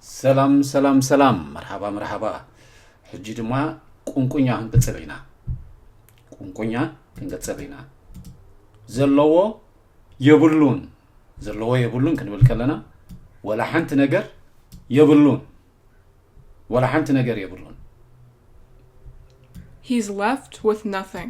ሰላም ሰላም ሰላም መርሓባ መርሓባ ሕጂ ድማ ቁንቁኛ ክንቅፅል ኢና ቁንቁኛ ክንቅፅል ኢና ዘለዎ የብሉን ዘለዎ የብሉን ክንብል ከለና ወላ ሓንቲ ነገር የብሉን ወላ ሓንቲ ነገር የብሉን He's left with nothing.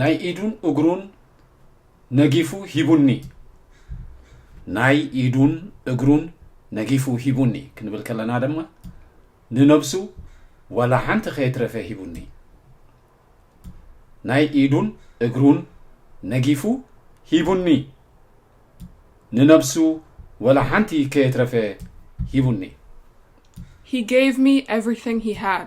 ናይ ኢዱን እግሩን ነጊፉ ሂቡኒ ናይ ኢዱን እግሩን ነጊፉ ሂቡኒ ክንብል ከለና ድማ ንነብሱ ዋላ ሓንቲ ከየትረፈ ሂቡኒ ናይ ኢዱን እግሩን ነጊፉ ሂቡኒ ንነብሱ ዋላ ሓንቲ ከየትረፈ ሂቡኒ He gave me everything he had.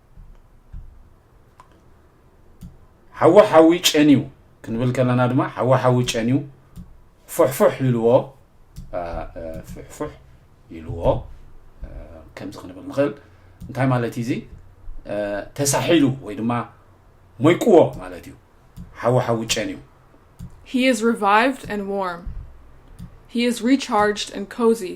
ሓዊ ሓዊ ጨንዩ ክንብል ከለና ድማ ሓዊ ሓዊ ጨንዩ ፍሕፍሕ ኢልዎ ፍሕፍሕ ኢልዎ ከምዚ ክንብል ንኽእል እንታይ ማለት እዩ እዚ ተሳሒሉ ወይ ድማ ሞይቅዎ ማለት እዩ ሓዊ ሓዊ ጨንዩ He is revived and warm. He is recharged and cozy.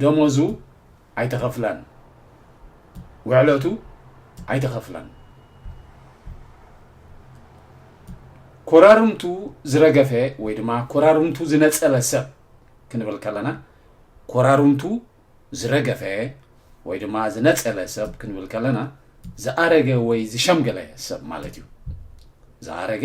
ደሞዙ ኣይተኸፍላን ውዕለቱ ኣይተኸፍላን ኮራርምቱ ዝረገፈ ወይ ድማ ኮራርምቱ ዝነፀበ ሰብ ክንብል ከለና ኮራርምቱ ዝረገፈ ወይ ድማ ዝነፀበ ሰብ ክንብል ከለና ዝኣረገ ወይ ዝሸምገለ ሰብ ማለት እዩ ዝኣረገ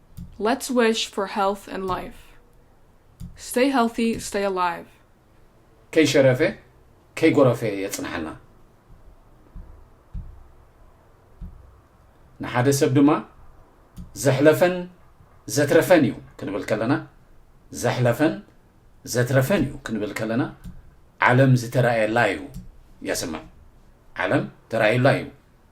Let's wish for health and life Stay healthy stay alive ከይሸረፈ ከይጎረፈ የጽንሓና ንሓደ ሰብ ድማ ዘሕለፈን ዘትረፈን እዩ ክንብል ከለና ዘሕለፈን ዘትረፈን እዩ ክንብል ከለና ዓለም ዝተራእየላ እዩ የስምዕ ዓለም ተራእዩላ እዩ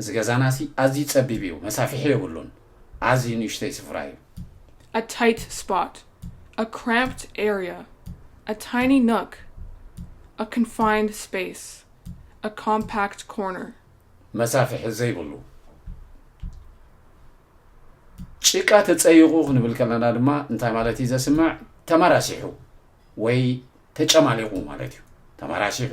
እዚ ገዛናሲ ኣዝዩ ጸቢብ እዩ፣ መሳፍሒ የብሉን፣ ኣዝዩ ንእሽተይ ስፍራ እዩ። a tight spot a cramped area a tiny nook a confined space a compact corner መሳፍሒ ዘይብሉ ጭቃ ተጸይቑ ክንብል ከለና ድማ እንታይ ማለት እዩ ዘስምዕ ተመራሲሑ ወይ ተጨማሊቑ ማለት እዩ ተመራሲሑ